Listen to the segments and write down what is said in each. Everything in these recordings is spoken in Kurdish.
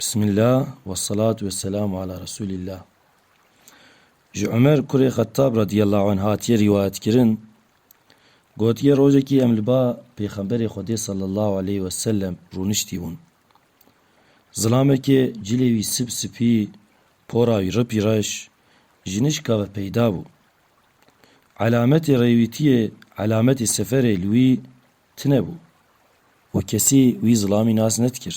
Bismillah wesselat wesselam ala Resulillah Ji Umer kurê Xettab radiyallahu anh hatiye rîwayetkirin gotiye rojekî em li ba Pêxemberê Xwedê sallallahu aleyh wesellem rûniştîbûn. Zilamekê cilê wî sip sipî, pora wî ripî reş, ji nişka ve peyda bû. Elametê rêwîtiyê, elametê seferê li wî tunebû û kesî wî zilamî nas nedikir.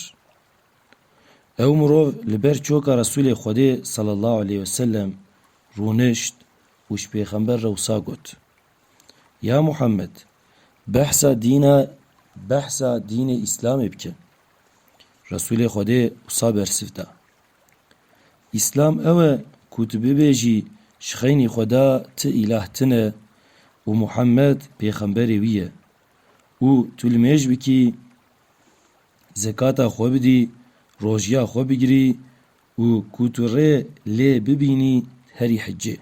Ew mirov li ber çoka Resûlê Xwedê sallallahu aleyh ve sellem rûnişt û ji pêxember re wisa got, Ya Muhammed behsa dîna behsa dînê Îslamê bike. Resûlê Xwedê wisa bersiv da. Îslam ew e ku tu bibêjî ji xeynî Xweda ti îlah tine û Muhammed pêxemberê wî ye û tu li mêj bikî, zekata xwe bidî, rojiya xwe bigirî û ku tu rê lê bibînî herî hiccê.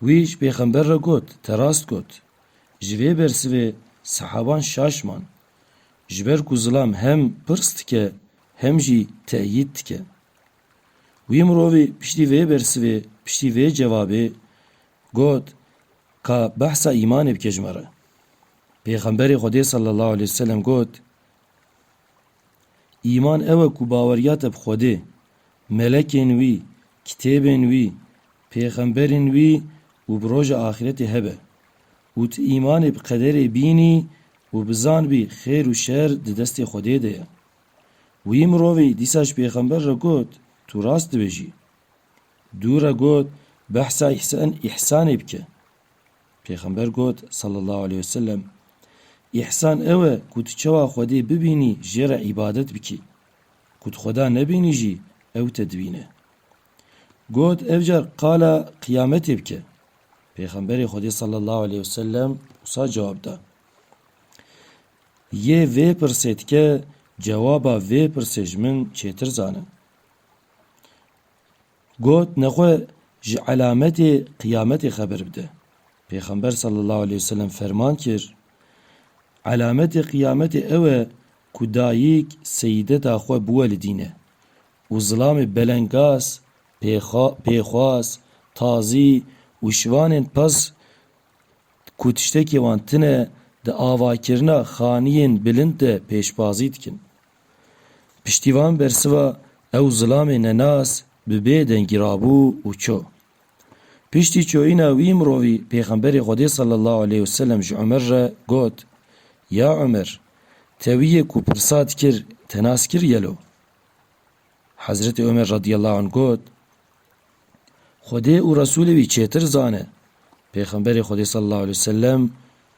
Wî ji pêxember re got, te rast got. Ji vê bersivê sehaban şaş man. Ji ber ku zilam hem pirs dike hem jî teyîd dike. Wî mirovî piştî vê bersivê, piştî vê cevabê got, Ka behsa îmanê bike ji me re. Pêxemberê Xwedê sallallahu aleyh ve selem got, Îman ew e ku baweriya te bi Xwedê, melekên wî, kitêbên wî, pêxemberên wî û bi roja axîretê hebe. Û tu îmanê bi qederê bînî û bizanbî xêr û şer di destê Xwedê de ye. Wî mirovî dîsa ji pêxember re got, Tu rast dibêjî. Dû re got, Behsa îhsan îhsanê bike. Pêxember got, Sallallahu aleyh ve sellem, Îhsan ew e ku tu çawa Xwedê bibînî jê re îbadet bikî. Ku tu Xweda nebînî jî ew te dibîne. Got, Ev car qala qiyametê bike. Pêxemberê Xwedê sallallahu aleyh wesellem wisa cewab da, Yê vê pirsê dike cewaba vê pirsê ji min çêtir zane. Got, Nexwe ji elametê qiyametê xeber bide. Pêxember sallallahu aleyh wesellem ferman kir, Elametê qiyametê ew e ku dayîk seyîdeta xwe biwe li dîne û zilamê belengaz Pêxwas, tazî û şivanên pez ku tiştekî wan tune di avakirina xaniyên bilind de pêşbazî dikin. Piştî van bersiva ew zilamê nenas bi bê dengî rabû û çû. Piştî çûyîna wî mirovî Pêxemberê Xwedê sallallahu aleyh û selem ji Umer re got, Ya Umer, te wî yê ku pirsa dikir te nas kir gelo? Hezretê Omer radîyallahu anh got, Xwedê û Resûlê wî çêtir zane. Pêxemberê Xwedê sallallahu aleyh wesellem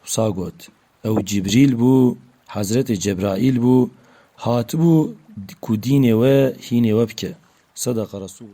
wisa got, Ew Cibrîl bû, Hezretê Cebraîl bû, hatibû ku dînê we hînê we bike. Sedeqa Resûl.